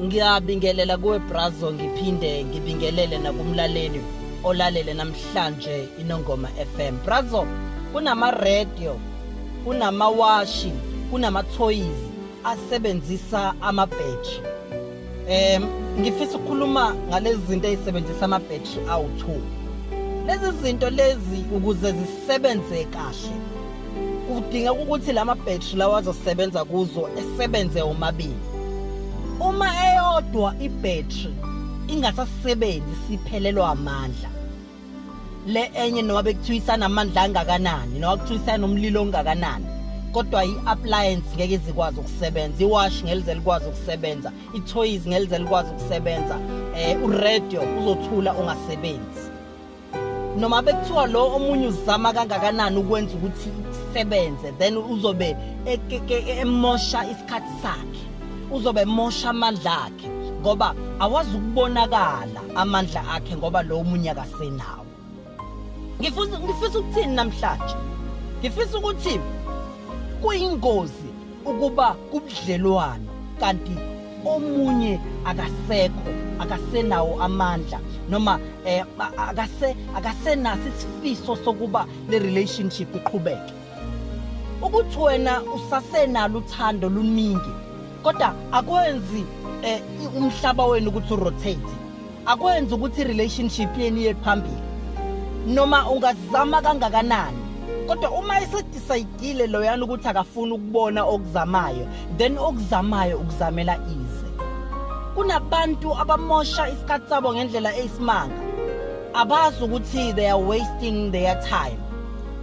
ngiyabingelela kuwe brazo ngiphinde ngibingelele nakumlaleli olalele namhlanje inongoma FM brazo kunama radio kunamawashi kunamathoyizi asebenzisa amabheji um ngifisa ukukhuluma ngalezi zinto ezisebenzisa amabheji awu-two lezi zinto lezi ukuze zisebenze kahle kudingeka ukuthi la mabheji lawa azosebenza kuzo esebenze omabili uma eyodwa ibhetri ingasasebenzi siphelelwa amandla le enye noma bekuthiwa isanamandla angakanani noma kuthiwa isanomlilo ongakanani kodwa i-appliance ngeke izikwazi ukusebenza iwash ngelize likwazi ukusebenza i-toys ngelize likwazi ukusebenza um uradio uzothula ungasebenzi noma bekuthiwa lo omunye uzama kangakanani ukwenza ukuthi isebenze then uzobe emosha isikhathi sakhe uzobe emosha amandla akhe ngoba awazi ukubonakala amandla akhe ngoba lo omunye akasenawo ngifisa ngifisa ukuthini namhlanje ngifisa ukuthi kuyingozi ukuba kubudlelwano kanti omunye akasekho akasenawo amandla noma eh akase akasenasi isifiso sokuba le relationship iqhubeke ukuthi wena usasenalo uthando luningi kodwa akwenzi eh, umhlaba wenu ukuthi urotate akwenzi ukuthi relationship yenu iye phambili noma ungazama kangakanani kodwa uma esedecide loyana ukuthi akafuni ukubona okuzamayo then okuzamayo ukuzamela ize kunabantu abamosha isikhathi sabo ngendlela eyisimanga abazi ukuthi they are wasting their time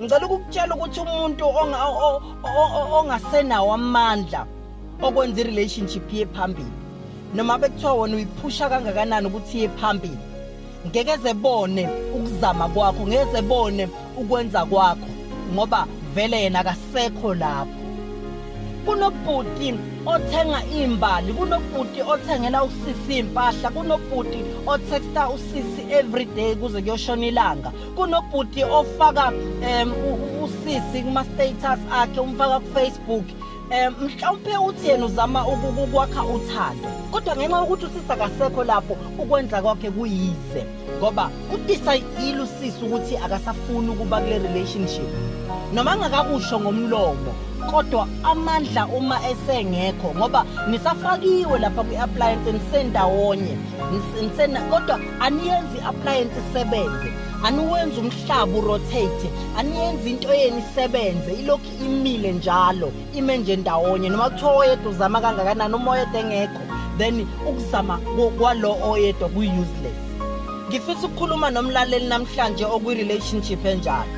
ngicela ukukutshela ukuthi umuntu ongasenawo amandla okwenza i-relationship iye phambili noma bekuthiwa wona uyiphusha kangakanani ukuthi iye phambili ngeke zebone ukuzama kwakho ngeke zebone ukwenza kwakho ngoba vele yena akasekho lapho kunobhuti othenga imbali kunobhuti othengela usisi impahla kunobhuti otexta usisi everyday kuze kuyoshona ilanga kunobhuti ofaka um usisi kuma-status akhe umfaka kufacebook um mhlawumpe uthi yena uzama ukwakha uthando kodwa ngenxa yokuthi usisi akasekho lapho ukwenza kwakhe kuyize ngoba udisayidile usisi ukuthi akasafuni ukuba kule relationship noma ngakakusho ngomlomo kodwa amandla uma esengekho ngoba nisafakiwe lapha kwi-appliance nisendawonye kodwa aniyenzi i-appliance isebenze aniwenzi umhlaba urotate aniyenzi into yenu isebenze ilokhu imile njalo ime nje ndawonye noma kuthiwa oyedwa uzama kangakanani uma oyedwa engekho then ukuzama kwalo oyedwa kuyi-useless ngifisa ukukhuluma nomlaleli namhlanje okwi-relationship enjalo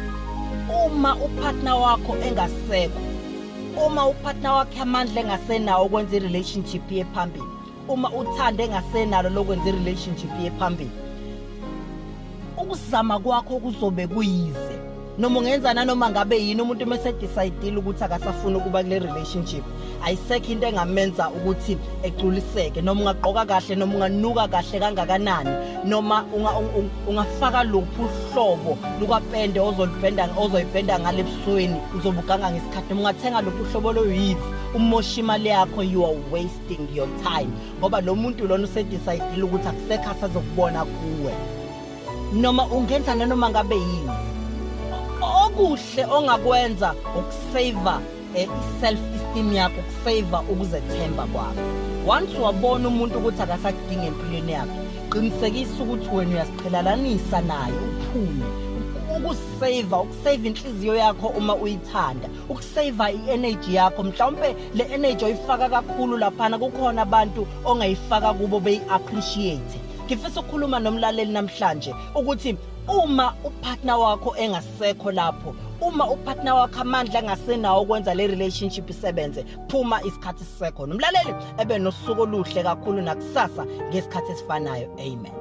uma upartner wakho engasekho uma upartner wakhe amandla engasenawo ukwenza i-relationship yephambili uma uthanda engasenalo lokwenza i-relationship ye phambili ukuzama kwakho kuzobe kuyize noma ungenza nanoma ngabe yini umuntu uma esedecide ukuthi akasafuni ukuba kule relationship ayisekho into engamenza ukuthi egculiseke noma ungagqoka kahle noma unganuka kahle kangakanani noma ungafaka luphi uhlobo lukapende ozolibhenda ozoyibhenda ngale ebusweni uzobuganga ngesikhathi noma ungathenga luphi uhlobo loyivi umosha imali yakho you are waste wasting your time ngoba lo muntu lona usedecide ukuthi akusekho asazokubona kuwe noma ungenza nanoma ngabe yini okuhle ongakwenza ukusave eh, i-self esteem yakho ukusave ukuzethemba kwakho once wabona umuntu ukuthi akasakudingi empilweni yakhe qinisekisa ukuthi wena uyasiqhelalanisa naye uphume ukusave ukusave inhliziyo yakho uma uyithanda ukusave i-energy yakho mhlawumpe le energy oyifaka kakhulu laphana kukhona abantu ongayifaka kubo beyi-appreciate ngifisa ukukhuluma nomlaleli namhlanje ukuthi uma upartner wakho engasekho lapho uma upartner wakho amandla angasenawo ukwenza le relationship isebenze phuma isikhathi sisekho nomlaleli ebe nosuku oluhle kakhulu nakusasa ngesikhathi esifanayo amen